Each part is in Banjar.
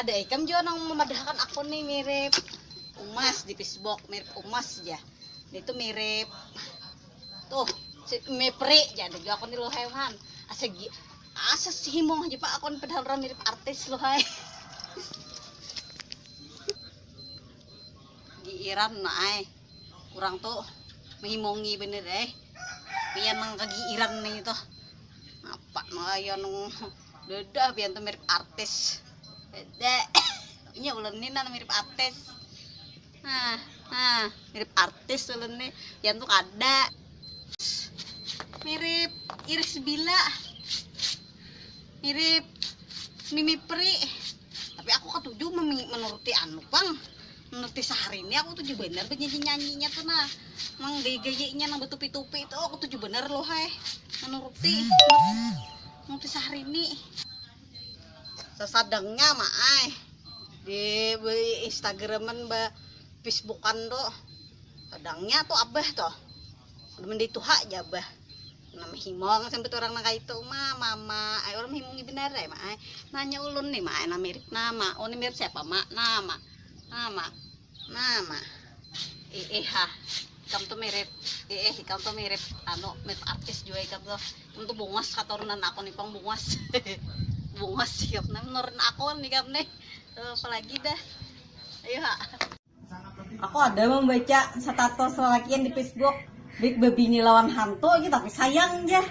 Ada ikam jua nang memadahakan akun nih mirip umas di Facebook, mirip umas aja. Ini tuh mirip tuh si Mepri aja ada juga akun di Luhaihan. Asa asa si himong aja pak akun padahal orang mirip artis Luhai. Giiran nah ay. Kurang tuh menghimongi bener eh. Pian nang kegiiran nih tuh. Apa nang ayo nung Duduh pian tu mirip artis. Dek. Inya ulun ni nan mirip artis. Nah, nah, mirip artis ulun ni. Pian tu kada. Mirip Iris Bila. Mirip Mimi Pri. Tapi aku ketujuh menuruti anu pang. Menuruti sehari ini aku tujuh bener bernyanyi-nyanyinya tuh nah. Mang gaya-gayanya nang betupi-tupi itu aku tujuh bener loh hai. Menuruti. Nang kisah rini. Sasadangnya mak ay. Di Instagraman ba Facebookan tu. Sadangnya tu abah tu. Mandi tuha aja abah. Nama himong sampai orang nang kaitu mah mama. Ay orang himongi benar ay mak ay. Nanya ulun nih mak ay nama mirip nama. Oh ni mirip siapa mak? Nama. Nama. Mama. Iihah. Ikam tuh mirip. Iih, ikam tuh mirip anu mirip artis juga ikam tuh. Ikam tuh bungas katurunan aku nih pang bungas. bungas ikam nih menurun aku nih ikam nih. Eh, apalagi dah. Ayo ha. Aku ada membaca status lelakian di Facebook. Baik bebini lawan hantu aja tapi sayang aja.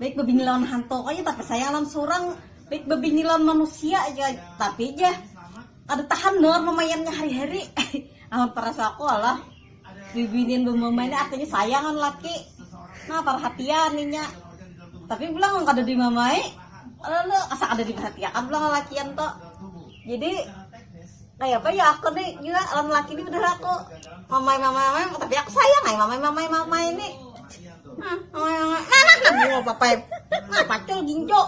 Baik bebini lawan hantu aja tapi sayang lawan surang. Baik bebini lawan manusia aja tapi aja Kada tahan lor memaiannya hari-hari. Amun perasa aku alah bibinian bemamai ni artinya sayang kan laki. Nah perhatian inya. Tapi pulang kada dimamai. Lalu asa kada diperhatiakan pulang lalakian to. Jadi kayak apa ya aku nih juga lawan laki ini bener aku mamai mamai mamai tapi aku sayang ay mamai mamai mamai ini nah mamai mamai nah nah nah apa apa pacul ginjo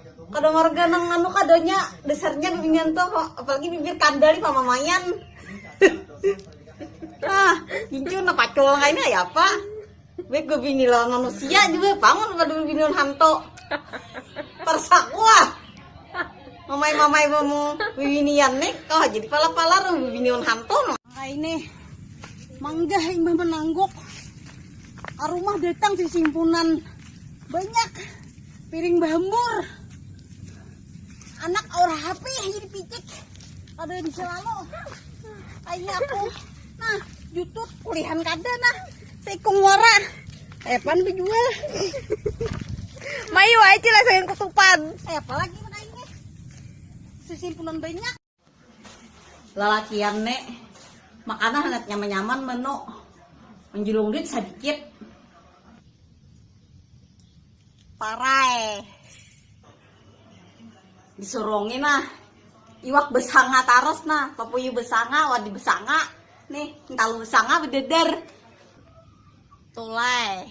Kada marga nang nganu kadanya dasarnya bibinian tuh apalagi bibir kandal di pamamaian. ah, gincu na pacul kaini ya apa? Baik bibini lawan manusia juga pangun pada bibini lawan hantu. Persakua. Mamai-mamai bamu bibinian nih, oh jadi pala-pala ru bibini lawan hantu. Kaini manggah imbah menangguk arumah datang simpunan banyak piring bahembur anak aur HP jadi picik ada yang selalu kayaknya aku nah YouTube kulihan kada nah seikung wara epan eh, dijual mayu aja lah sayang ketupan eh apalagi makanya sesimpunan banyak Lalakian ne makanan handak nyaman-nyaman menu menjulung duit sadikit. Parai. Disurungi nah iwak besanga tarus nah papuyu besanga wadi besanga nih hintalu besanga bededer. Tulai.